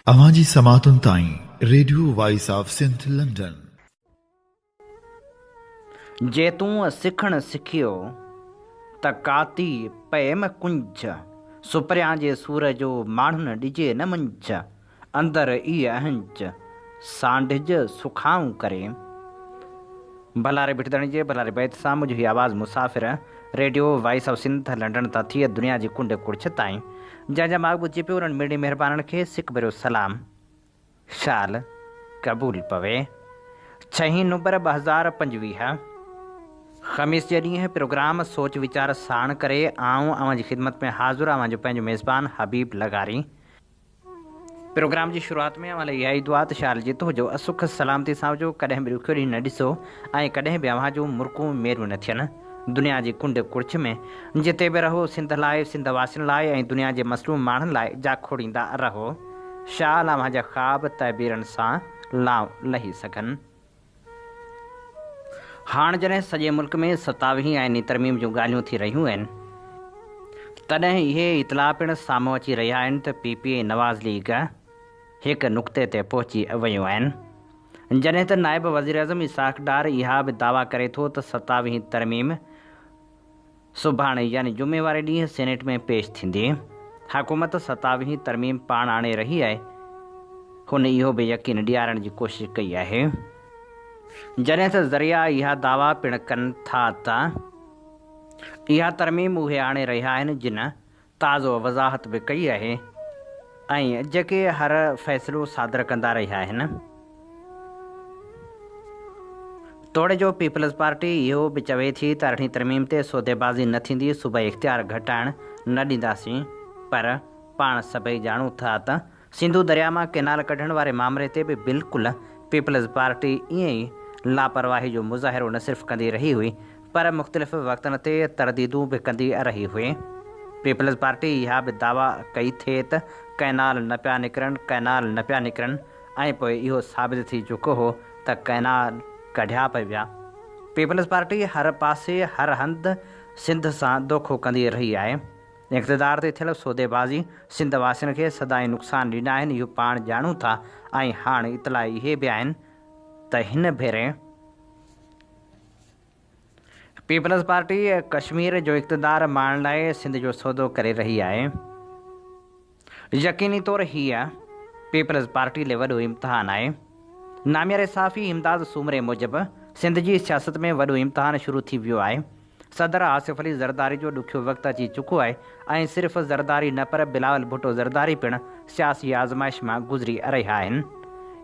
اوهان جي سماعتن تائين radio voice of Sindh London. جي تون سکڻ سکيو ته ڪاتي پئيم ڪنج. سپريان جي سور جو ماڻهن ڏجي نه منج. اندر ئي اهنج سانڍج سکائون ڪري. ڀلاري ڀٽدڻي جي ڀلاري بيت سان منهنجي هي آواز مسافر radio voice of Sindh London تان ٿئي دنيا جي ڪنڊ ڪڙڇ تائين جنهن جا ماڳ ٻڌجي پيو انهن ميڙي مهربانن کي سڪ ڀريو سلام شال قبول پوي ڇهين نومبر ٻه هزار پنجويهه خميس جي ڏينهن پروگرام سوچ ويچار ساڻ ڪري آئون اوهان جي خدمت ۾ حاضر اوهان جو پنهنجو ميزبان حبيب لغاري پروگرام جي شروعات ۾ اوهان لاء اها ئي دعا ته شال جيتو هجو، سک سلامتي سان هجو، ڪڏهن به ڏکيو ڏينهن نه ڏسو ۽ ڪڏهن به اوهان جون مرڪون ميرون نه ٿين. دنيا جي ڪنڊ ڪڙڇ ۾ جتي به رهو، سنڌ لاء، سنڌ واسين لاء ۽ دنيا جي مظلوم ماڻهن لاء جا کوڙيندا رهو. شال اوهان جا خواب تعبيرن سان لانء لهي سگهن. هاڻ جڏهن سڄي ملڪ ۾ ستاويهين آئيني ترميم جون ڳالهيون ٿي رهيون آهن تڏهن اهي اطلاع پڻ سامهون اچي رهيا آهن ته پي پي ۽ نواز ليگ هڪ نقطي تي پهچي ويون آهن جڏهن ته نائب وزيراعظم اسحاق ڊار اها به دعويٰ ڪري ٿو ته ستاويهين ترميم سڀاڻي يعني جمعي واري ڏينهن سينيٽ ۾ پيش ٿيندي. حڪومت ستاويهين ترميم پاڻ آڻي رهي آهي. هن اهو به يقين ڏيارڻ جي ڪوشش ڪئي آهي. جڏهن ته ذريعا اها دعويٰ پڻ ڪن ٿا ته اها ترميم اهي آڻي رهيا آهن جن تازو وضاحت به ڪئي آهي ۽ جيڪي هر فيصلو صادر ڪندا رهيا آهن. توڙي جو پيپلز پارٽي اهو به چوي ٿي ته ارڙهين ترميم تي سوديبازي نه ٿيندي، صوبائي اختيار گهٽائڻ نه ڏينداسين پر پاڻ سڀئي ڄاڻون ٿا ته سنڌو درياء مان ڪئنال ڪڍڻ واري مامري تي به بلڪل پيپلز پارٽي ائين ئي لاپرواهي جو مظاهرو نه صرف ڪندي رهي هئي پر مختلف وقتن تي ترديدون به ڪندي رهي هئي. پيپلز پارٽي اها به دعويٰ ڪئي ٿي ته ڪئنال نه پيا نڪرن، ڪئنال نه پيا نڪرن ۽ پوء اهو ثابت ٿي چڪو هو ته ڪئنال ڪڍيا پئي ويا. پيپلز پارٽي هر پاسي هر هنڌ سنڌ سان دوکو ڪندي رهي آهي. اقتدار تي ٿيل سوديبازي سنڌ واسين کي سدائين نقصان ڏيندا آهن اهو پاڻ ڄاڻون ٿا ۽ هاڻ اطلاع اهي به آهن ته هن ڀيري پيپلز پارٽي ڪشمير جو اقتدار ماڻڻ لاء سنڌ جو سودو ڪري رهي آهي. يقيني طور هيء پيپلز پارٽي لئي وڏو امتحان آهي. نامياري صحافي امداد سومري موجب سنڌ جي سياست ۾ وڏو امتحان شروع ٿي ويو آهي. صدر آصف علي زرداري جو ڏکيو وقت اچي چڪو آهي ۽ صرف زرداري نه پر بلاول ڀٽو زرداري پڻ سياسي آزمائش مان گذري رهيا آهن.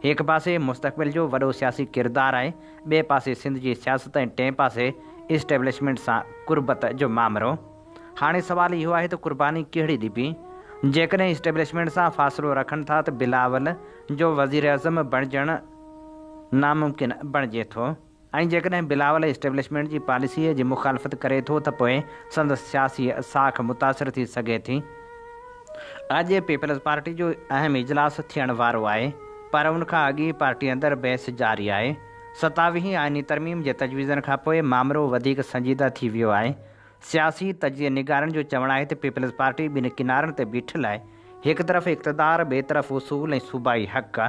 هڪ پاسي مستقبل جو وڏو سياسي ڪردار آهي ٻئي پاسي سنڌ جي سياست ۽ ٽئين پاسي اسٽيبلشمينٽ سان قربت جو مامرو. هاڻي سوال اهو آهي ته قرباني ڪهڙي ڏبي؟ جيڪڏهن اسٽيبلشمينٽ سان فاصلو رکن ٿا ته بلاول جو وزيراعظم بڻجڻ ناممڪن بڻجي ٿو ۽ جيڪڏهن بلاول اسٽيبلشمينٽ جي پاليسيء جي مخالفت ڪري ٿو ته پوء سندس سياسي ساک متاثر ٿي سگهي ٿي. اڄ پيپلزپارٽي جو اهم اجلاس ٿيڻ وارو آهي پر ان کان اڳ ئي پارٽي اندر بحث جاري آهي. ستاويهين آئيني ترميم جي تجويزن کانپوء مامرو وڌيڪ سنجيده ٿي ويو آهي. سياسي تجزيي نگارن جو چوڻ آهي ته پيپلز پارٽي ٻن ڪنارن تي بيٺل آهي، هڪ طرف اقتدار، ٻئي طرف اصول ۽ صوبائي حق.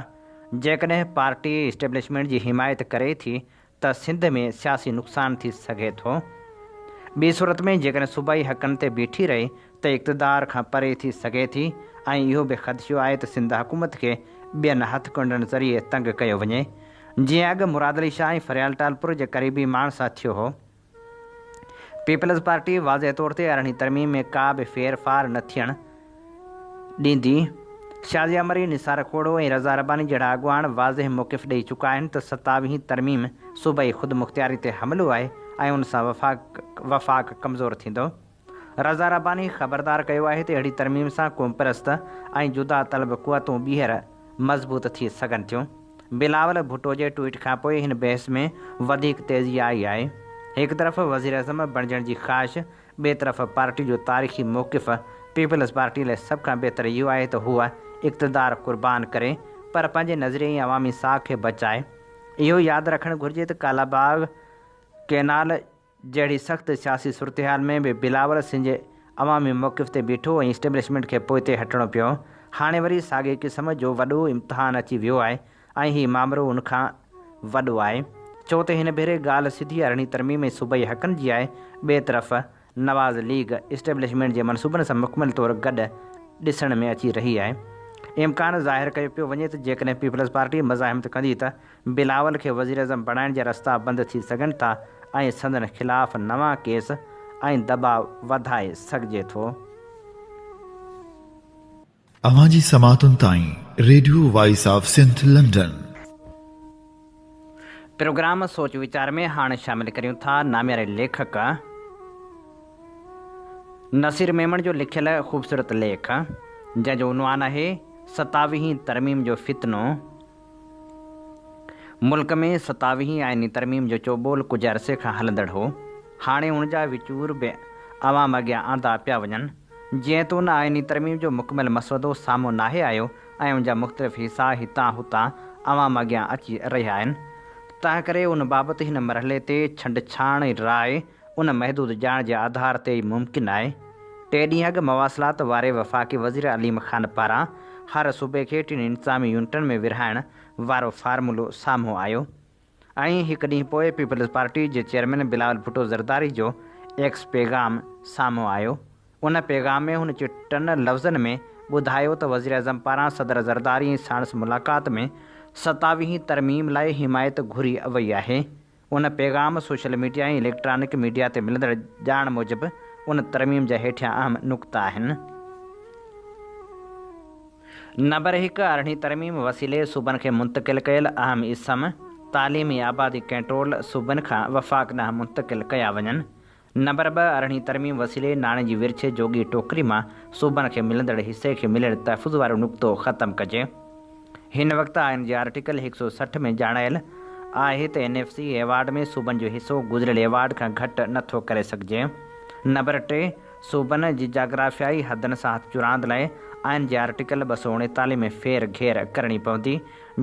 جيڪڏهن پارٽي اسٽيبلشمينٽ جي حمايت ڪري ٿي ته سنڌ ۾ سياسي نقصان ٿي سگهي ٿو. ٻي صورت ۾ جيڪڏهن صوبائي حقن تي بيٺي رهي ته اقتدار کان پري ٿي سگهي ٿي ۽ اهو به خدشو آهي ته سنڌ حڪومت کي ٻين هٿ ڪنڊن ذريعي تنگ ڪيو وڃي، جيئن اڳ مراد علي شاهه ۽ فريال ٽالپر جي قريبي ماڻهن سان ٿيو هو. پيپلز پارٽي واضح طور تي ارڙهين ترميم ۾ ڪا به ڦير ڦار نه ٿيڻ ڏيندي، شازيا مري، نثار کوڙو ۽ رضا رباني جهڙا اڳواڻ واضح موقف ڏئي چڪا آهن ته ستاويهين ترميم صوبائي خودمختياري تي حملو آهي ۽ ان سان وفاق وفاق ڪمزور ٿيندو. رضا رباني خبردار ڪيو آهي ته اهڙي ترميم سان قومپرست ۽ جدا طلب قوتون ٻيهر مضبوط ٿي سگهن ٿيون. بلاول ڀٽو جي ٽوئيٽ کانپوء هن بحث ۾ وڌيڪ تيزي آئي آهي. هڪ طرف وزيراعظم بڻجڻ جي خواهش، ٻئي طرف پارٽي جو تاريخي موقف، پيپلز پارٽي لاء سڀ کان بهتر اهو آهي ته هوء اقتدار قربان ڪري پر پنهنجي نظريي ۽ عوامي ساک کي بچائي. اهو ياد رکڻ گهرجي ته ڪالاباغ ڪئنال، جهڙي سخت سياسي صورتحال ۾ به بلاول سنج عوامي موقف تي بيٺو ۽ اسٽيبلشمينٽ کي پوئتي هٽڻو پيو. هاڻي وري ساڳئي قسم جو وڏو امتحان اچي ويو آهي ۽ هي مامرو ان کان وڏو آهي. ڇو ته هن ڀيري ڳالهه سڌي ارڙهين ترميم ۽ صوبائي حقن جي آهي. ٻئي طرف نواز ليگ اسٽيبلشمينٽ جي منصوبن سان مڪمل طور گڏ ڏسڻ ۾ اچي رهي آهي. امڪان ظاهر ڪيو پيو وڃي ته جيڪڏهن پيپلزپارٽي مزاحمت ڪندي ته بلاول کي وزيراعظم بڻائڻ جا رستا بند ٿي سگهن ٿا ۽ سندن خلاف نوان ڪيس ۽ دٻاء وڌائي سگهجي ٿو. اوهان جي سماعتن تائين radio voice of Sindh London. Program سوچ ويچار ۾ هاڻ شامل ڪريون ٿا نامياري ليکڪ نصير ميمڻ جو لکيل خوبصورت ليک جنهن جو عنوان آهي ستاويهين ترميم جو فتنو. ملڪ ۾ ستاويهين آئيني ترميم جو چوٻول ڪجهه عرصي کان هلندڙ هو، هاڻي ان جا وچور به عوام اڳيان آندا پيا وڃن. جيئن ته ان آئيني ترميم جو مڪمل مسودو سامهون ناهي آيو ۽ ان جا مختلف حصا هتان هتان عوام اڳيان اچي رهيا آهن، تنهنڪري ان بابت هن مرحلي تي ڇنڊڇاڻ راء ان محدود ڄاڻ جي آڌار تي ئي ممڪن آهي. ٽي ڏينهن اڳ مواصلات واري وفاقي وزير عليم خان پاران هر صوبي کي ٽن انتظامي يونٽن ۾ ورهائڻ وارو فارمولو سامهون آيو ۽ هڪ ڏينهن پوء پيپلز پارٽي جي چيئرمين بلاول ڀٽو زرداري جو ايڪس پيغام سامهون آيو ان پيغام ۾ هن چٽن لفظن ۾ ٻڌايو ته وزيراعظم پاران صدر زرداري ساڻس ملاقات ۾ ستاويهين ترميم لاء حمايت گهري وئي آهي ان پيغام سوشل ميڊيا ۽ اليڪٽرانڪ ميڊيا تي ملندڙ ڄاڻ موجب ان ترميم جا هيٺيان اهم نقطا آهن. نمبر هڪ، ارڙهين ترميم وسيلي صوبن کي منتقل ڪيل اهم اسم، تعليم ۽ آبادي ڪنٽرول صوبن کان وفاق ڏانهن منتقل ڪيا وڃن. نمبر ٻه، ارڙهين ترميم وسيلي ناڻي جي ورڇ جوڳي ٽوڪري مان صوبن کي ملندڙ حصي کي مليل تحفظ وارو نقطو ختم ڪجي. هن وقت آئين جي آرٽيڪل هڪ سؤ سٺ ۾ ڄاڻايل آهي ته اين ايف سي ايوارڊ ۾ صوبن جو حصو گذريل ايوارڊ کان گهٽ نه ٿو ڪري سگهجي. نمبر ٽي، صوبن جي جاگرافيائي حدن سان هٿ چراند لاء آئين جي آرٽيڪل ٻه سؤ اڻيتاليهه ۾ ڦير گهير ڪرڻي پوندي،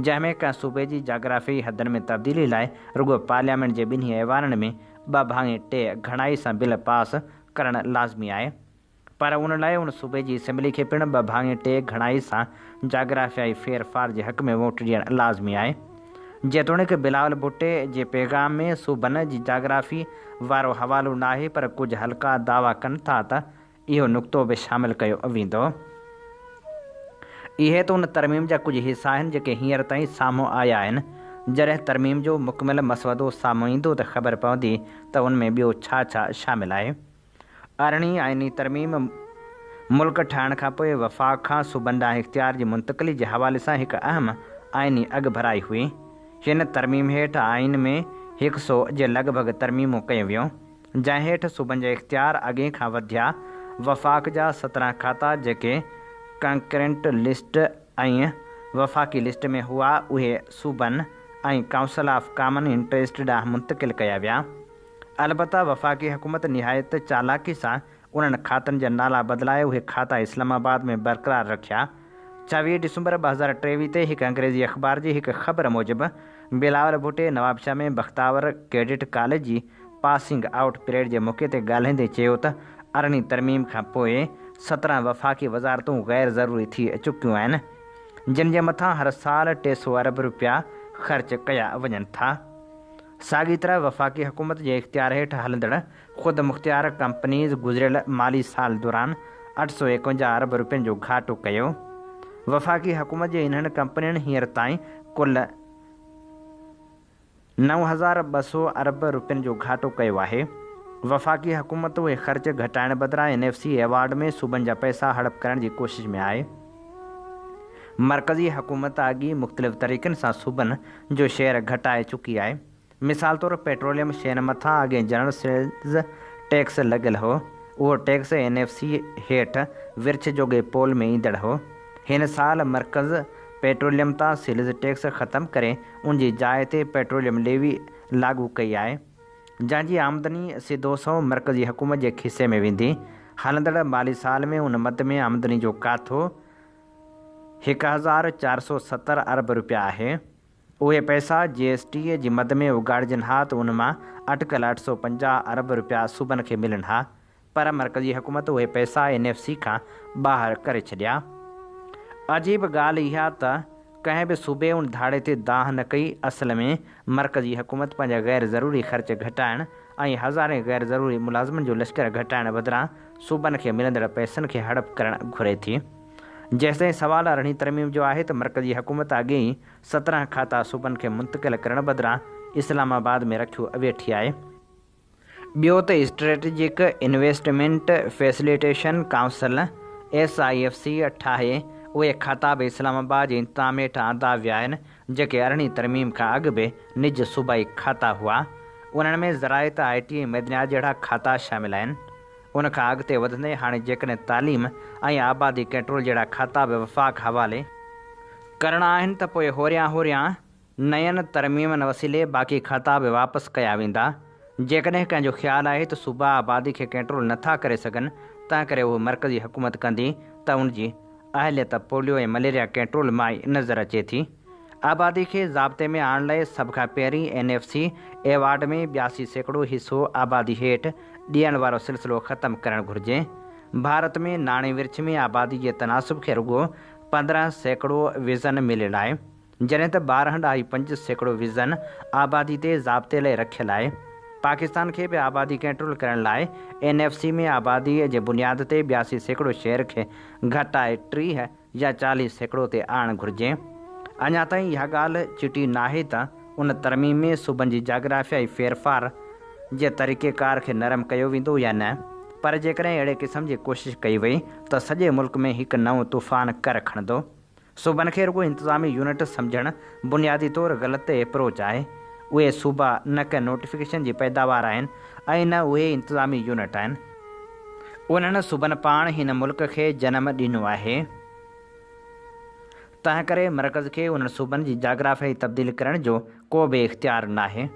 جنهن ۾ ڪنهن صوبي جي جاگرافيائي حدن ۾ تبديلي لاء رڳو پارليامينٽ جي ٻنهي ايوانن ۾ ٻه ڀاڱي ٽي گهڻائي سان بل پاس ڪرڻ لازمي آهي پر ان لاء ان صوبي جي اسيمبلي کي پڻ ٻه ڀاڱي ٽي گهڻائي سان جاگرافيائي ڦير ڦار جي حق ۾ ووٽ ڏيڻ لازمي آهي جيتوڻيڪ بلاول ڀٽي جي پيغام ۾ صوبن جي جاگرافي وارو حوالو ناهي پر ڪجهه حلقا دعويٰ ڪن ٿا ته اهو نقطو به شامل ڪيو ويندو. اهي ته ان ترميم جا ڪجهه حصا آهن جيڪي هينئر تائين سامهون آيا آهن، جڏهن ترميم جو مڪمل مسودو سامهون ايندو ته خبر پوندي ته ان ۾ ٻيو ڇا ڇا شامل آهي. ارڙهين آئيني ترميم ملڪ ٺاهڻ کان پوء وفاق کان صوبن ڏانهن اختيار جي منتقلي جي حوالي سان هڪ اهم آئيني اڳڀرائي هئي. هن ترميم هيٺ آئين ۾ هڪ سؤ جي لڳ ڀڳ ترميمون ڪيون ويون. جنهن هيٺ صوبن جا اختيار اڳي کان وڌيا، وفاق جا سترهن کاتا جيڪي ڪنڪرنٽ لسٽ ۽ وفاقي لسٽ ۾ هئا اهي صوبن ۽ ڪائونسل آف ڪامن انٽريسٽ ڏانهن منتقل ڪيا ويا. البته وفاقي حڪومت نهايت چالاڪي سان انهن کاتن جا نالا بدلائي اهي کاتا اسلام آباد ۾ برقرار رکيا. چويهه ڊسمبر ٻه هزار ٽيويهه تي هڪ انگريزي اخبار جي هڪ خبر موجب بلاول ڀٽي نوابشاهه ۾ بختاور ڪيڊٽ ڪاليج جي پاسنگ آئوٽ پريڊ جي موقعي تي ڳالهائيندي چيو ته ارڙهين ترميم کان پوء سترهن وفاقي وزارتون غير ضروري ٿي چڪيون آهن جن جي مٿان هر سال ٽي سؤ ارب رپيا خرچ ڪيا وڃن ٿا ساڳي طرح وفاقي حڪومت جي اختيار هيٺ هلندڙ خود مختيار ڪمپنيز گذريل مالي سال دوران اٺ سؤ ايڪونجاهه ارب رپين جو گهاٽو ڪيو، وفاقي حڪومت جي انهن ڪمپنين هينئر تائين ڪل نو هزار ٻه سؤ ارب رپين جو گهاٽو ڪيو آهي، وفاقي حڪومت اهي خرچ گهٽائڻ بدران اين ايف سي ايوارڊ ۾ صوبن جا پئسا هڙپ ڪرڻ جي ڪوشش ۾ آهي، مرڪزي حڪومت اڳ ئي مختلف طريقن سان صوبن جو شيئر گهٽائي چڪي آهي. مثال طور پيٽروليم شين مٿان اڳين جنرل سيلز ٽيڪس لڳل هو، اهو ٽيڪس اين ايف سي هيٺ ورڇ جوڳي پول ۾ ايندڙ هو. هن سال مرڪز پيٽروليم تان سيلز ٽيڪس ختم ڪري ان جي جاء تي پيٽروليم ليوي لاڳو ڪئي آهي، جنهن جي آمدني سڌو سنئون مرڪزي حڪومت جي کيسي ۾ ويندي. هلندڙ مالي سال ۾ ان مد ۾ آمدني جو ڪاٿو هڪ هزار چار سؤ ستر ارب رپيا آهي. اهي پئسا جي ايس ٽي جي مد ۾ اگهاڙجن ها ته ان مان اٽڪل اٺ سؤ پنجاهه ارب رپيا صوبن کي ملن ها پر مرڪزي حڪومت اهي پئسا اين ايف سي کان ٻاهر ڪري ڇڏيا. عجيب ڳالهه اها ته ڪنهن به صوبي ان ڌاڙي تي دانهن نه ڪئي، اصل ۾ مرڪزي حڪومت پنهنجا غير ضروري خرچ گهٽائڻ ۽ هزارين غير ضروري ملازمن جو لشڪر گهٽائڻ بدران صوبن کي ملندڙ پئسن کي هڙپ ڪرڻ گهري ٿي. جيستائين سوال ارڙهين ترميم جو آهي ته مرڪزي حڪومت اڳي ئي سترهن کاتا صوبن کي منتقل ڪرڻ بدران اسلام آباد ۾ رکيو ويٺي آهي. ٻيو ته strategic investment facilitation council, S I F C, ٺاهي اهي کاتا به اسلام آباد جي انتظام هيٺ آندا ويا آهن جيڪي ارڙهين ترميم کان اڳ به نج صوبائي کاتا هئا. انهن ۾ زراعت، آء ٽي ۽ معدنيات جهڙا کاتا شامل آهن. ان کان اڳتي وڌندي هاڻي جيڪڏهن تعليم ۽ آبادي ڪنٽرول جهڙا کاتا به وفاق حوالي ڪرڻا آهن ته پوء هوريان هوريان نين ترميمن وسيلي باقي کاتا به واپس ڪيا ويندا. جيڪڏهن ڪنهن جو خيال آهي ته صوبا آبادي کي ڪنٽرول نه ٿا ڪري سگهن تنهنڪري اهو مرڪزي حڪومت ڪندي ته ان جي اهليت ته پوليو ۽ مليريا ڪنٽرول مان ئي نظر اچي ٿي. آبادي کي ضابطي ۾ آڻڻ لاء سڀ کان پهرين اين ايف سي ايوارڊ ۾ ٻياسي سيڪڙو حصو آبادي هيٺ ڏيڻ وارو سلسلو ختم ڪرڻ گهرجي. ڀارت ۾ ناڻي ورڇ ۾ آبادي جي تناسب کي رڳو پندرهن سيڪڙو وزن مليل آهي. جڏهن ته ٻارهن ڏهائي پنج سيڪڙو ويزن آبادي تي ضابطي لئي رکيل آهي. پاڪستان کي به آبادي ڪنٽرول ڪرڻ لاء اين ايف سي ۾ آبادي جي بنياد تي ٻياسي سيڪڙو شيئر کي گهٽائي ٽيهه يا چاليهه سيڪڙو تي آڻڻ گهرجي. اڃا تائين اها ڳالهه چٽي ناهي ته ان ترميم ۾ صوبن جي جاگرافيائي ڦيرڦار جي طريقي ڪار کي نرم ڪيو ويندو يا نه پر جيڪڏهن اهڙي قسم جي ڪوشش ڪئي وئي ته سڄي ملڪ ۾ هڪ نئون طوفان ڪر کڻندو. صوبن کي رڳو انتظامي يونٽ سمجهڻ بنيادي طور غلط ايپروچ آهي. اهي صوبا نه ڪنهن نوٽيفڪيشن جي پيداوار آهن ۽ نه اهي انتظامي يونٽ آهن. انهن صوبن پاڻ هن ملڪ کي جنم ڏنو آهي. تنهنڪري مرڪز کي انهن صوبن جي جاگرافيائي تبديل ڪرڻ جو ڪو به اختيار ناهي.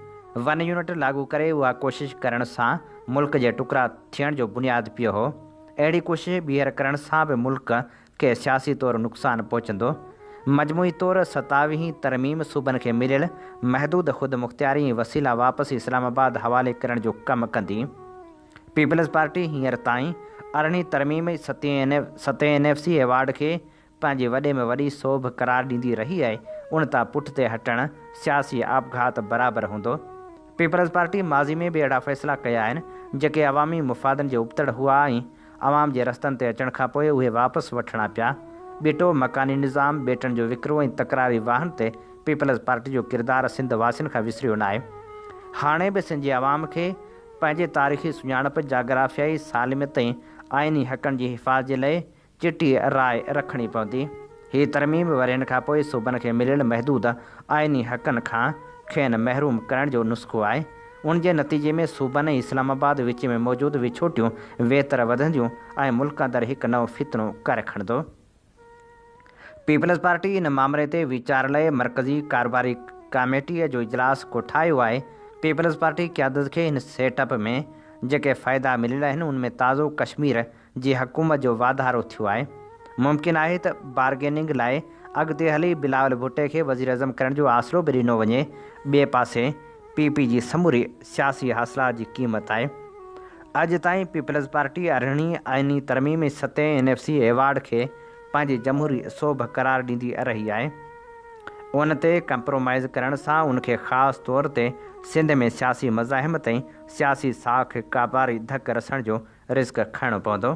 ون يونٽ لاڳو ڪري اها ڪوشش ڪرڻ سان ملڪ جي ٽڪرا ٿيڻ جو بنياد پيو هو. اهڙي ڪوشش ٻيهر ڪرڻ سان به ملڪ کي سياسي طور نقصان پهچندو. مجموعي طور ستاويهين ترميم صوبن کي مليل محدود خودمختياري ۽ وسيلا واپس اسلام آباد حوالي ڪرڻ جو ڪم ڪندي. پيپلز پارٽي هينئر تائين ارڙهين ترميم ستين ستين اين ايف سي ايوارڊ کي پنهنجي وڏي ۾ وڏي سوڀ قرار ڏيندي رهي آهي ان تان پٺتي هٽڻ سياسي آپگهات برابر هوندو. پيپلز پارٽي ماضي ۾ به اهڙا فيصلا ڪيا آهن جيڪي عوامي مفادن جي ابتڙ هئا ۽ عوام جي رستن تي اچڻ کان پوء اهي واپس وٺڻا پيا. ٻيٽو، مڪاني نظام، ٻيٽن جو وڪرو ۽ تڪراري واهن تي پيپلز پارٽي جو ڪردار سنڌ واسين کان وسريو ناهي. هاڻي به سنڌ جي عوام کي پنهنجي تاريخي سڃاڻپ، جاگرافيائي سالميت ۽ آئيني حقن جي حفاظ جي لئه چٽي راء رکڻي پوندي. هي ترميم ورهين کان پوء صوبن کي مليل محدود آئيني حقن کان کين محروم ڪرڻ جو نسخو آهي. ان جي نتيجي ۾ صوبن ۽ اسلام آباد وچ ۾ موجود وڇوٽيون ويتر وڌنديون ۽ ملڪ اندر هڪ نئون فتنو ڪر کڻندو. پيپلزپارٽي ان مامري تي ويچار لئه مرڪزي ڪاروباري ڪاميٽيء جو اجلاس ڪوٺايو آهي. پيپلزپارٽي قيادت کي هن سيٽ اپ ۾ جيڪي فائدا مليل آهن، ان ۾ تازو ڪشمير جي حڪومت جو واڌارو ٿيو آهي، ممڪن آهي ته بارگيننگ لاء اڳتي هلي بلاول ڀٽي کي وزيراعظم ڪرڻ جو آسرو به ڏنو وڃي، ٻئي پاسي پي پي جي سموري سياسي حاصلات جي قيمت آهي. اڄ تائين پيپلزپارٽي ارڙهين آئيني ترميم ۽ ستين اين ايف سي ايوارڊ کي پنهنجي جمهوري سوڀ قرار ڏيندي رهي آهي، ان تي ڪمپرومائيز ڪرڻ سان ان کي خاص طور تي سنڌ ۾ سياسي مزاحمت ۽ سياسي ساک کي ڪاباري ڌڪ رسڻ جو رسڪ کڻڻو پوندو.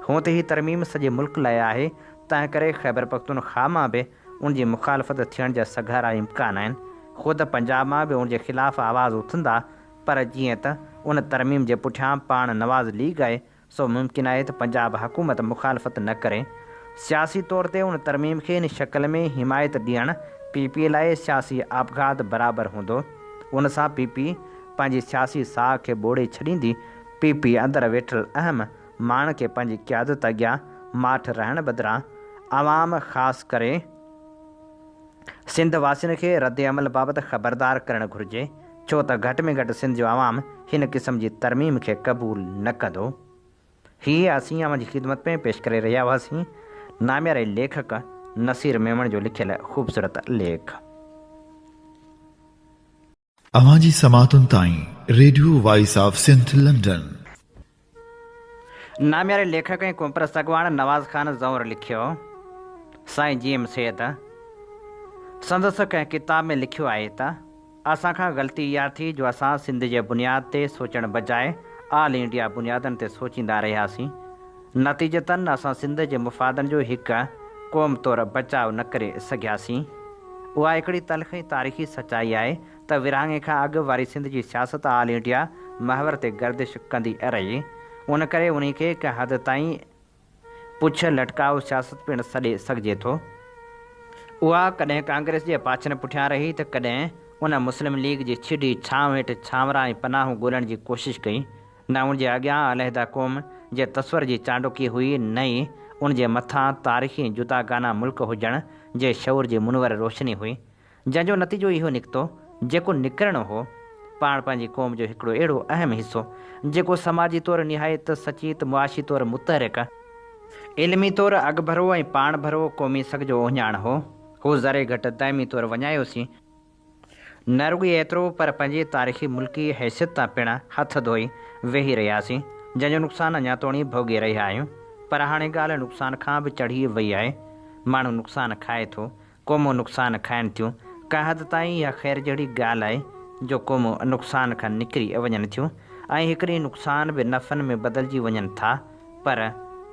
هونء ته هي ترميم سڄي ملڪ لاء آهي، تنهنڪري خيبرپختونخواهه مان به ان جي مخالفت ٿيڻ جا سگهارا امڪان آهن. خود پنجاب مان به ان جي خلاف آواز اٿندا، پر جيئن ته ان ترميم جي پٺيان پاڻ نواز ليگ آهي، سو ممڪن آهي ته پنجاب حڪومت مخالفت نه ڪري. سياسي طور تي ان ترميم کي ان شڪل ۾ حمايت ڏيڻ پي پي لاء سياسي آپگهات برابر هوندو. ان سان پي پي پنهنجي سياسي ساهه کي ٻوڙي ڇڏيندي. پي پي اندر ويٺل اهم ماڻهن کي پنهنجي قيادت اڳيان ماٺ رهڻ بدران عوام خاص ڪري سنڌ واسين کي ردعمل بابت خبردار ڪرڻ گهرجي ڇو ته گهٽ ۾ گهٽ سنڌ جو عوام هن قسم جي ترميم کي قبول نه ڪندو هي اسين اوهان جي خدمت ۾ پيش ڪري رهيا هئاسين نامياري ليکڪ نصير ميمڻ جو لکيل خوبصورت ليک. اوهان جي سماعتن تائين radio voice of Sindh London. نامياري ليکڪ ۽ قومپرست اڳواڻ نواز خان زئونر لکيو، سائين جي ايم سيد سندس ڪنهن ڪتاب ۾ لکيو آهي ته، اسان کان غلطي اها ٿي جو اسان سنڌ جي بنياد تي سوچڻ بجاء آل انڊيا بنيادن تي سوچيندا رهياسين، نتيجتاً اسان سنڌ جي مفادن جو هڪ قوم طور بچاء نه ڪري سگهياسين. اها هڪڙي تلخ ۽ تاريخي سچائي آهي ته ورهاڱي کان اڳ واري سنڌ جي سياست آل انڊيا محور تي گردش ڪندي رهي. ان ڪري انهي کي هڪ حد تائين پڇ لٽڪاء سياست پڻ سڏي سگهجي ٿو. اها ڪڏهن ڪانگريس جي پاڇن پٺيان رهي ته ڪڏهن ان مسلم ليگ جي ڇڊي ڇانو هيٺ ڇانورا ۽ پناهون ڳولڻ جي ڪوشش ڪئي. نه ان جي اڳيان عليحده قوم جي تصور جي چانڊوڪي هئي نه ئي ان جي مٿان تاريخي جداگانه ملڪ هجڻ جي شعور جي منور روشني هئي جنهن جو نتيجو اهو نڪتو جيڪو نڪرڻو هو پاڻ پنهنجي قوم جو هڪڙو اهڙو اهم حصو جيڪو سماجي طور نهايت سچيت معاشي طور متحرڪ، علمي طور اڳڀرو ۽ پاڻڀرو قومي سگهه جو اهڃاڻ هو، هو ذري گهٽ دائمي طور وڃايو سين. نه رڳو ايترو پر پنهنجي تاريخي ملڪي حيثيت تان پڻ هٿ ڌوئي ويهي رهياسين، جنهن جو نقصان اڃا توڻي ڀوڳي رهيا آهيون. پر هاڻي ڳالهه نقصان کان به چڙهي وئي آهي. ماڻهو نقصان کائي ٿو، قومون نقصان کائن ٿيون. ڪنهن حد تائين اها خير جهڙي ڳالهه آهي جو قومون نقصان کان نڪري وڃن ٿيون ۽ هڪ ڏينهن نقصان به نفعن ۾ بدلجي وڃن ٿا پر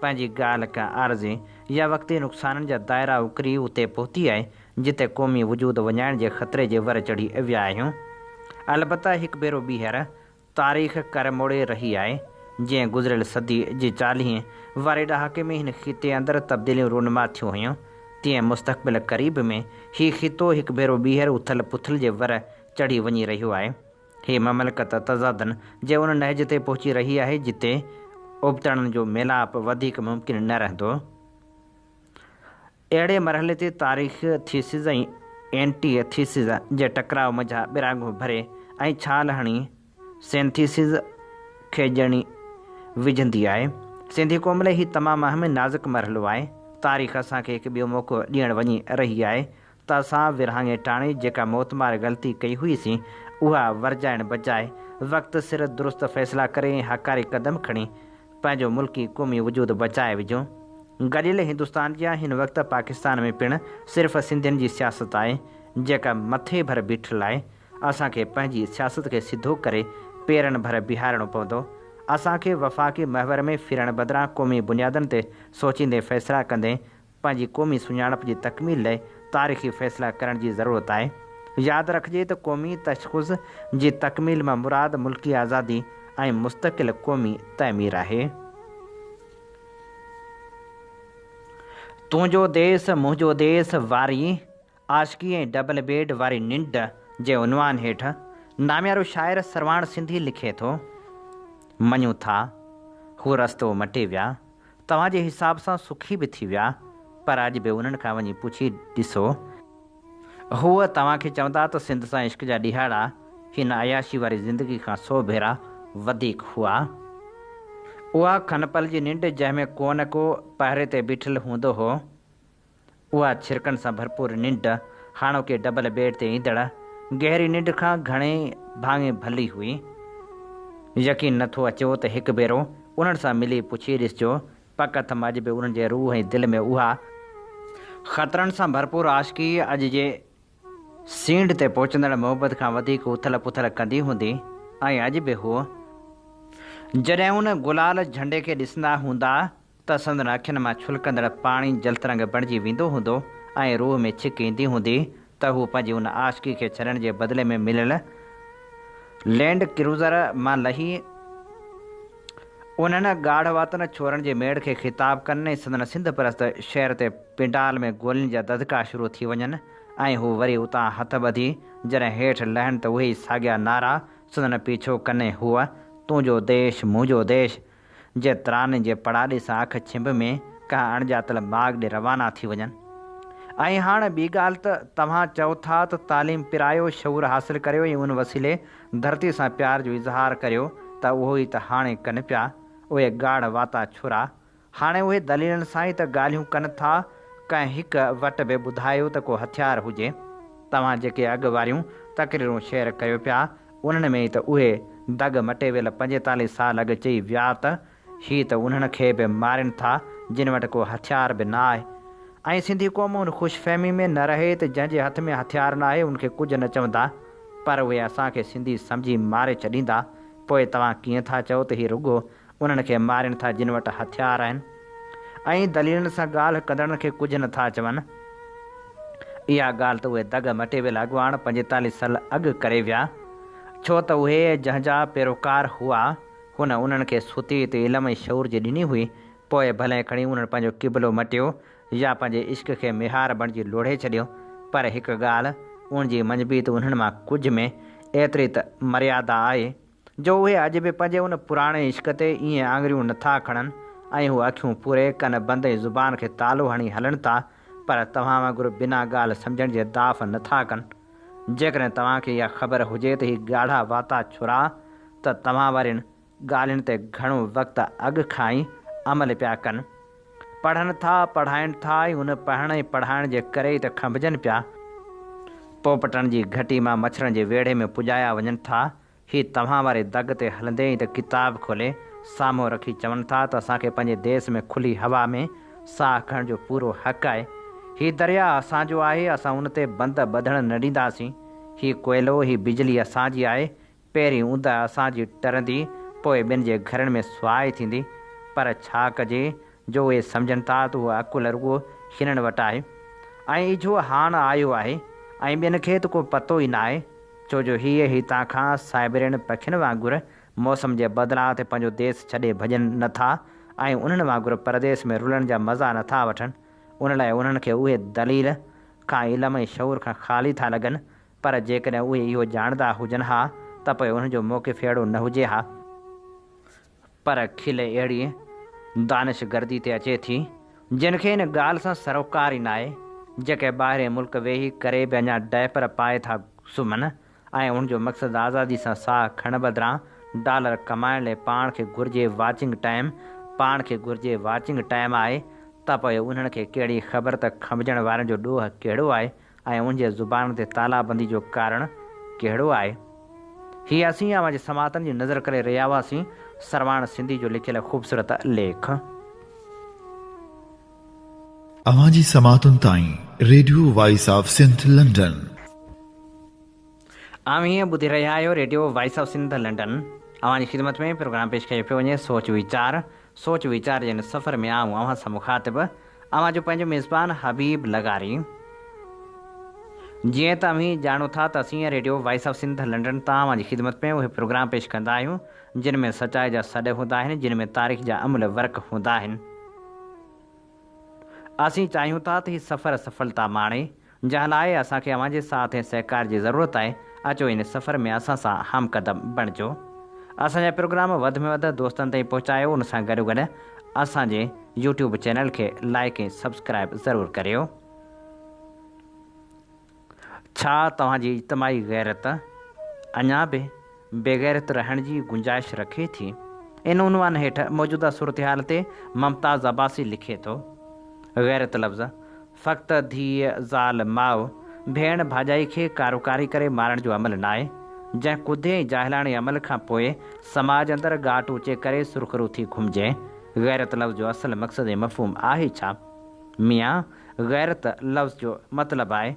پنهنجي ڳالهه ڪنهن عارضي يا وقتي نقصانن جا دائرا اڪري اتي پهتي آهي جتي قومي وجود وڃائڻ جي خطري جي ور چڙهي ويا آهيون. البته هڪ ڀيرو ٻيهر تاريخ ڪر موڙي رهي آهي، جيئن گذريل صدي جي چاليهين واري ڏهاڪي ۾ هن خطي اندر تبديليون رونما ٿيون هيون، تيئن مستقبل قريب ۾ هي خطو هڪ ڀيرو ٻيهر اٿل پٿل جي ور چڙهي وڃي رهيو آهي. هي مملڪت تضادن جي ان نهج تي پهچي رهي آهي، جتي ابتڙن جو ميلاپ وڌيڪ ممڪن نه رهندو. اهڙي مرحلي تي تاريخي ٿيسز ۽ اينٽي ٿيسز جي ٽڪراء منجهان ٻراڳون ڀري ۽ ڇال هڻي سينٿيسز کي ڄڻي وجهندي آهي. سنڌي قوم لاء هي تمام اهم ۽ نازڪ مرحلو آهي. تاريخ اسان کي هڪ ٻيو موقعو ڏيڻ وڃي رهي آهي ته اسان ورهاڱي ٽاڻي جيڪا موتمار غلطي ڪئي هئيسين اها ورجائڻ بجاء وقت سر درست فيصلا ڪري ۽ هاڪاري قدم کڻي پنهنجو ملڪي قومي وجود بچائي وجهون. گڏيل هندستان جيان هن وقت پاڪستان ۾ پڻ صرف سنڌين جي سياست آهي جيڪا مٿي ڀر بيٺل آهي. اسان کي پنهنجي سياست کي سڌو ڪري پيرن ڀر بيهارڻو پوندو. اسان کي وفاقي محور ۾ ڦرڻ بدران قومي بنيادن تي سوچيندي فيصلا ڪندي پنهنجي قومي سڃاڻپ جي تڪميل لاء تاريخي فيصلا ڪرڻ جي ضرورت آهي. ياد رکجي ته قومي تشخص جي تڪميل مان مراد ملڪي آزادي ۽ مستقل قومي تعمير آهي. تنهنجو ديس منهنجو ديس واري عاشقي ۽ ڊبل بيڊ واري ننڊ جي عنوان هيٺ ناميارو شاعر سرواڻ سنڌي لکي ٿو، مڃون ٿا، هو رستو مٽي ويا، توهان جي حساب سان سکي به ٿي ويا، پر اڄ به انهن کان وڃي پڇي ڏسو، هو توهان کي چوندا ته سنڌ سان عشق جا ڏيهاڙا هن عياشي واري زندگي کان سو ڀيرا وڌيڪ هئا. اها کنپل جي ننڊ جنهن ۾ ڪونه ڪو پهري تي بيٺل هوندو هو. اها ڇرڪن سان ڀرپور ننڊ هاڻوڪي ڊبل بيڊ تي ايندڙ گهري ننڊ کان گهڻي ڀاڱي ڀلي هئي. يقين نه ٿو اچيو ته هڪ ڀيرو انهن سان ملي پڇي ڏسجو، پڪ اٿم اڄ به انهن جي روح ۽ دل ۾ اها خطرن سان ڀرپور عاشقي اڄ جي سينڍ تي پهچندڙ محبت کان وڌيڪ اٿل پٿل ڪندي هوندي ۽ اڄ به هو جڏهن ان گلال جهنڊي کي ڏسندا هوندا ته سندن اکين مان ڇلڪندڙ پاڻي جلترنگ بڻجي ويندو هوندو ۽ روح ۾ ڇڪ ايندي هوندي ته هو پنهنجي ان عاشقي کي ڇڏڻ جي بدلي ۾ مليل لينڊ ڪروزر مان لهي انهن ڳاڙهواتن ڇورن جي ميڙ کي خطاب ڪن ۽ سندن سنڌ پرست شعر تي پنڊال ۾ گولين جا دڌڪا شروع ٿي وڃن ۽ هو وري اتان هٿ ٻڌي جڏهن هيٺ لهن ته اهي ئي ساڳيا نعرا سندن پيڇو ڪن هو تون جو ديش مون جو ديش جي تراني جي پڙاڏي سان اک ڇنڀ ۾ ڪنهن اڻڄاتل باغ ڏي روانا ٿي وڃن. ۽ هاڻ ٻي ڳالهه ته توهان چئو ٿا ته تعليم پرائيو، شعور حاصل ڪريو ۽ ان وسيلي ڌرتي سان پيار جو اظهار ڪريو ته اهو ئي ته هاڻي ڪن پيا اهي ڳاڙهه واتا ڇورا. هاڻي اهي دليلن سان ئي ته ڳالهيون ڪن ٿا. ڪنهن هڪ وٽ به ٻڌايو ته ڪو هٿيار هجي. توهان جيڪي اڳ واريون تقريرون شيئر ڪيو پيا انهن ۾ ئي ته اهي دڳ مٽي ويل پنجيتاليهه سال اڳ چئي ويا ته هي ته انهن کي به مارين ٿا جن وٽ ڪو هٿيار به نه آهي ۽ سنڌي قوم ان خوش فهمي ۾ نه رهي ته جنهن جي هٿ ۾ هٿيار ناهي ان کي ڪجهه نه چوندا پر اهي اسان کي سنڌي سمجهي ماري ڇڏيندا پوء توهان ڪيئن ٿا چئو ته هي رڳو انهن کي مارين ٿا جن وٽ هٿيار آهن ۽ دليلن سان ڳالهه ڪندڙن کي ڪجهه نه ٿا چون. اها ڳالهه ته اهي دڳ مٽيويل اڳواڻ پنجيتاليهه سال اڳ ڪري ويا ڇو ته اهي جنهن جا پيروڪار هئا هن انهن کي سوتيء تي علم ۽ شعور جي ڏني هئي پوء ڀلئين کڻي انهن پنهنجو قبلو مٽيو يا پنهنجي عشق کي ميهار بڻجي لوڙهي ڇڏيو پر هڪ ڳالهه ان جي منجبيت انهن مان ڪجهه ۾ ايتري ته مريادا آهي جو اهي اڄ به پنهنجي ان پراڻي عشق تي ائين آڱريون نه ٿا کڻن ۽ هو اکيون پوري، ڪن بند ۽ زبان کي تالو هڻي هلن ٿا، پر توهان وانگر بنا ڳالهه سمجهڻ جي داف نه ٿا ڪن. جيڪڏهن توهان کي اها خبر هجي ته هي ڳاڙها واتا ڇورا ته توهان وارين ڳالهين تي گهڻو وقت اڳ کان ئي عمل پيا ڪن. پڙهن ٿا، پڙهائين ٿا ۽ ان پڙهڻ ۽ پڙهائڻ جي ڪري ئي ته کنڀجن پيا. پوپٽن جي گهٽي مان مڇرن جي ويڙهي ۾ پڄايا وڃن ٿا ۽ هي توهان واري دڳ تي هلندي ئي ته ڪتاب کولي سامهون رکي چون ٿا ته اسان کي پنهنجي ديس ۾ کلي هوا ۾ ساهه کڻڻ جو پورو حق آهي. هي درياهه اسان جو آهي، اسان ان تي بند ٻڌڻ نه ڏينداسين. هي ڪوئلو، هي بجلي اسان جي آهي. پهرين اوندهه اسان جي ٽرندي، پوء ٻين جي گهرن ۾ سوائي ٿيندي. پر ڇا ڪجي، جو اهي سمجهن ٿا ته اها عقل رڳو شنن وٽ آهي ۽ اجهو هاڻ آيو آهي ۽ ٻين کي ته ڪو پتو ئي ناهي ڇو جو هيء هتان کان سائبرين پکين وانگر موسم جي بدلاء تي پنهنجو ديس ڇڏي ڀڄن نه ٿا ۽ انهن وانگر پرديس ۾ رلڻ جا مزا نه ٿا وٺن ان لاء انهن کي اهي دليل کان علم ۽ شعور کان خالي ٿا لڳن پر جيڪڏهن اهي اهو ڄاڻندا هجن ها ته پوء انهن جو موقف اهڙو نه هجي ها. پر کل اهڙيء دانش گردي تي اچي ٿي، جنھن کي ان ڳالھه سان سروڪار ئي ناهي، جيڪي ٻاهرئين ملڪ ويهي ڪري به اڃا ڊائپر پائي ٿا سمهن ۽ انھن جو مقصد آزادي سان ساهه کڻڻ بدران ڊالر ڪمائڻ لئي پاڻ کي گهرجي واچنگ ٽائيم پاڻ کي گهرجي واچنگ ٽائيم آهي ته پوء انھن کي ڪهڙي خبر ته کنڀجڻ وارن جو ڏوهه ڪهڙو آهي ۽ ان جي زبان تي تالا بندي جو ڪارڻ ڪهڙو آهي؟ هي اسين اوهان جي سماعتن جي نذر ڪري رهيا هئاسين. سرواڻ سنڌي جو لکيل خوبصورت ليک. اوهان جي سماعتن تائين radio voice of Sindh London. اوهين ٻڌي رهيا آهيو radio voice of Sindh London. اوهان جي خدمت ۾ پروگرام پيش ڪيو پيو وڃي سوچ ويچار. سوچ ويچار جي هن سفر ۾ آئون اوهان سان مخاطب اوهان جو پنهنجو ميزبان حبيب لغاري. جيئن ته اوهين ڄاڻو ٿا ته اسين radio voice of Sindh London تان اوهان جي خدمت ۾ اهي پروگرام پيش ڪندا آهيون جن ۾ سچائي جا سڏ هوندا آهن جن ۾ تاريخ جا املهه ورق هوندا آهن. اسين چاهيون ٿا ته هي سفر سڦلتا ماڻي جنهن لاء اسان کي اوهان جي ساٿ ۽ سهڪار جي ضرورت آهي، اچو ان سفر ۾ اسان سان همقدم بڻجو. اسان جا پروگرام وڌ ۾ وڌ دوستن تائين پهچايو ان سان گڏو گڏ اسان جي يوٽيوب چينل کي لائيڪ ۽ سبسڪرائيب ضرور ڪريو. ڇا توهان جي اجتماعي غيرت اڃا به بيغيرت رهڻ جي گنجائش رکي ٿي. ان عنوان هيٺ موجوده صورتحال تي ممتاز عباسي لکي ٿو، غيرت لفظ فقط ڌيء، زال، ماء، ڀيڻ، ڀاڄائي کي ڪاروڪاري ڪري مارڻ جو عمل ناهي، جنهن ڪڌي ۽ جاهلاڻي عمل کان پوء سماج اندر ڳاٽ اچي ڪري سرخرو ٿي گهمجي. غيرت لفظ جو اصل مقصد ۽ مفهوم آهي ڇا؟ ميان! غيرت لفظ جو مطلب آهي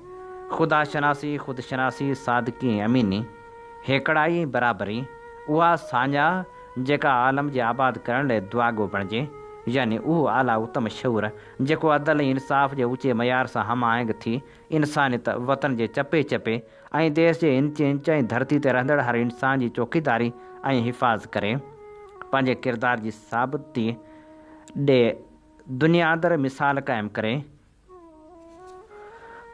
خدا شناسي، خود شناسي، صادقي ۽ اميني، هيڪڙائي ۽ برابري، اها ساڃاهه جيڪا عالم جي آباد ڪرڻ لئه دعاگو بڻجي، يعني اهو اعليٰ اتم شعور جيڪو عدل ۽ انصاف جي اوچي معيار سان هم آهنگ ٿي انسانيت، وطن جي چپي چپي ۽ ديس جي انچ انچ ۽ ڌرتي تي رهندڙ هر انسان جي چوڪيداري ۽ حفاظ ڪري، پنهنجي ڪردار جي ثابتي ڏئي. دنيادر مثال قائم ڪري،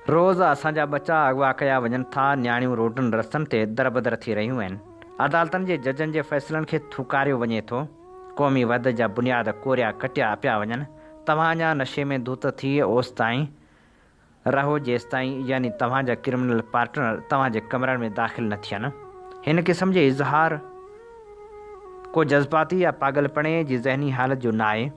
روز اسان جا ٻچا اغوا ڪيا وڃن ٿا، نياڻيون روڊن رستن تي دربدر ٿي رهيون آهن، عدالتن جي ججن جي فيصلن کي ٿوڪاريو وڃي ٿو، قومي وحدت جا بنياد ڪوريا ڪٽيا پيا وڃن، توهان اڃا نشي ۾ ڌت ٿي اوستائين رهو جيستائين يعني توهان جا ڪرمنل پارٽنر توهان جي ڪمرن ۾ داخل نه ٿين. هن قسم جي اظهار ڪو جذباتي يا پاڳلپڻي جي ذهني حالت جو ناهي.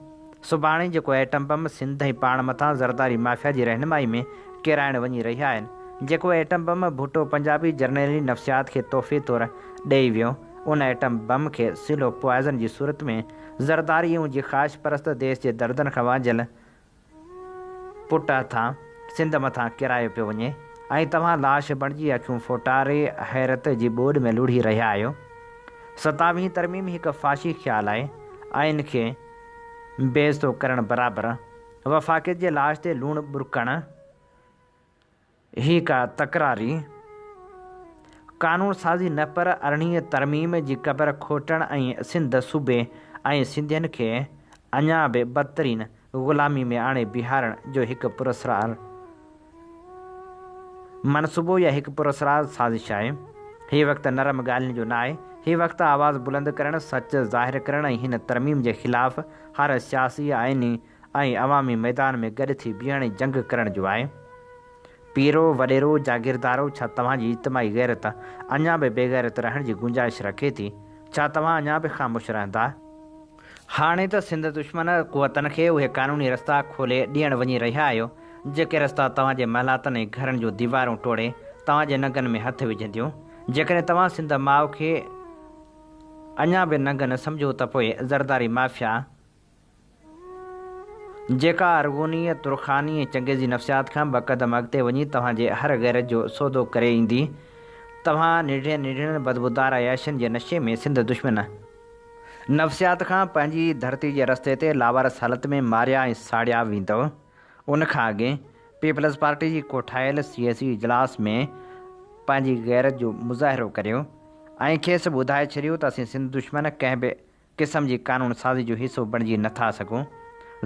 سڀاڻي جيڪو ايٽم بم سنڌ ۽ پاڻ مٿان زرداري مافيا جي رهنمائي ۾ ڪيرائڻ وڃي رهيا آهن، جيڪو ايٽم بم ڀٽو پنجابي جرنيلي نفسيات کي تحفي طور ڏئي ويو، ان ايٽم بم کي سلو پوائزن جي صورت ۾ زرداري ۽ جي خواهش پرست ديس جي دردن کان وانجهيل پٽ هٿان سنڌ مٿان ڪيرايو پيو وڃي ۽ توهان لاش بڻجي اکيون ڦوٽاري حيرت جي ٻوڏ ۾ لڙهي رهيا آهيو. ستاويهين ترميم هڪ فاشي خيال آهي. آئين کي بي عزتو ڪرڻ برابر وفاقيت جي لاش تي لوڻ ٻرڪڻ. هي ڪا تڪراري قانون سازي نه پر ارڙهين ترميم جي قبر کوٽڻ ۽ سنڌ صوبي ۽ سنڌين کي اڃا به بدترين غلامي ۾ آڻي بيهارڻ جو هڪ پراسرار منصوبو يا هڪ پراسرار سازش آهي. هي وقت نرم ڳالهين جو ناهي. هي وقت آواز بلند ڪرڻ، سچ ظاهر ڪرڻ ۽ هن ترميم جي خلاف هر سياسي، آئيني، ۽ عوامي ميدان ۾ گڏ ٿي بيهڻ ۽ جنگ ڪرڻ جو آهي. پيرو، وڏيرو، جاگيردارو ڇا توهان جي اجتماعي غيرت اڃا به بيغيرت رهڻ جي گنجائش رکي ٿي؟ ڇا توهان اڃا به خاموش رهندا؟ هاڻي ته سنڌ دشمن قوتن کي اهي قانوني رستا کولي ڏيڻ وڃي رهيا آهيو، جيڪي رستا توهان جي محلاتن ۽ گهرن جون ديوارون ٽوڙي توهان جي ننگن ۾ هٿ وجهنديون. جيڪڏهن توهان سنڌ ماء کي اڃا به ننگ نه سمجهو ته پوء زرداري مافيا جيڪا ارغونيء، ترخانيء ۽ چنگيزي نفسيات کان ٻه قدم اڳتي وڃي توهان جي هر غيرت جو سودو ڪري ايندي. توهان نيڍڙين نيڍڙين بدبودار عياشين جي نشي ۾ سنڌ دشمن نفسيات کان پنهنجي ڌرتي جي رستي تي لاوارث حالت ۾ ماريا ۽ ساڙيا ويندؤ. ان کان اڳي پيپلز پارٽي جي ڪوٺايل سياسي اجلاس ۾ پنهنجي غيرت جو مظاهرو ڪريو ۽ کيس ٻڌائي ڇڏيو ته اسين سنڌ دشمن ڪنهن به قسم جي قانون سازي جو حصو بڻجي نه ٿا سگهون.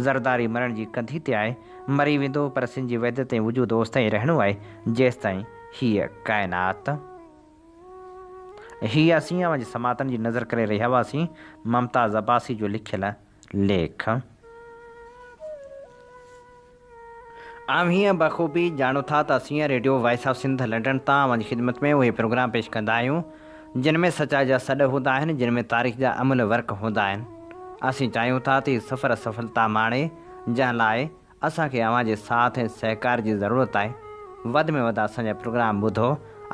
زرداري مرڻ جي ڪنڌي تي آهي، مري ويندو پر سنڌ جي وحدت ۽ وجود اوستائين رهڻو آهي جيستائين هيء ڪائنات. هي اسين اوهان جي سماعتن جي نذر ڪري رهيا هئاسين ممتاز عباسي جو لکيل ليک. اوهين بخوبي ڄاڻو ٿا ته اسين radio voice of Sindh London تان اوهان جي خدمت ۾ اهي پروگرام پيش ڪندا آهيون جن ۾ سچائي جا سڏ هوندا آهن جن ۾ تاريخ جا املهه ورق هوندا آهن اسين چاهيون ٿا ته هي سفر سڦلتا ماڻي جنهن لاء اسان کي اوهان جي ساٿ ۽ سهڪار جي ضرورت آهي وڌ ۾ وڌ اسان جا پروگرام ٻڌو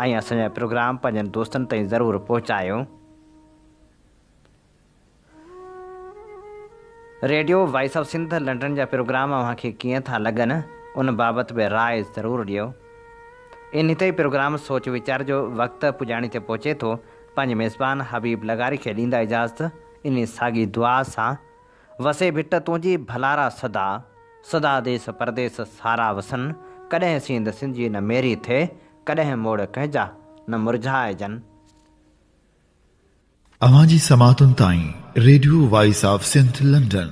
۽ اسان جا پروگرام پنهنجن دوستن تائين ضرور پهچايو. Radio voice of Sindh London جا پروگرام اوهان کي ڪيئن ٿا لڳن ان بابت به راء ضرور ڏيو. انهي تي پروگرام سوچ ويچار جو وقت پڄاڻي تي پهچي ٿو پنهنجي ميزبان حبيب لغاري کي ڏيندا اجازت انهي ساڳي دعا سان وسي ڀٽ تنهنجي ڀلارا صدا صدا ديس پرديس سارا وسن ڪڏهن سينڌ سنجي نه ميري ٿئي ڪڏهن موڙ ڪنهنجا نه مرجهائجن. اوهان جي سماعتن تائين radio voice of Sindh London.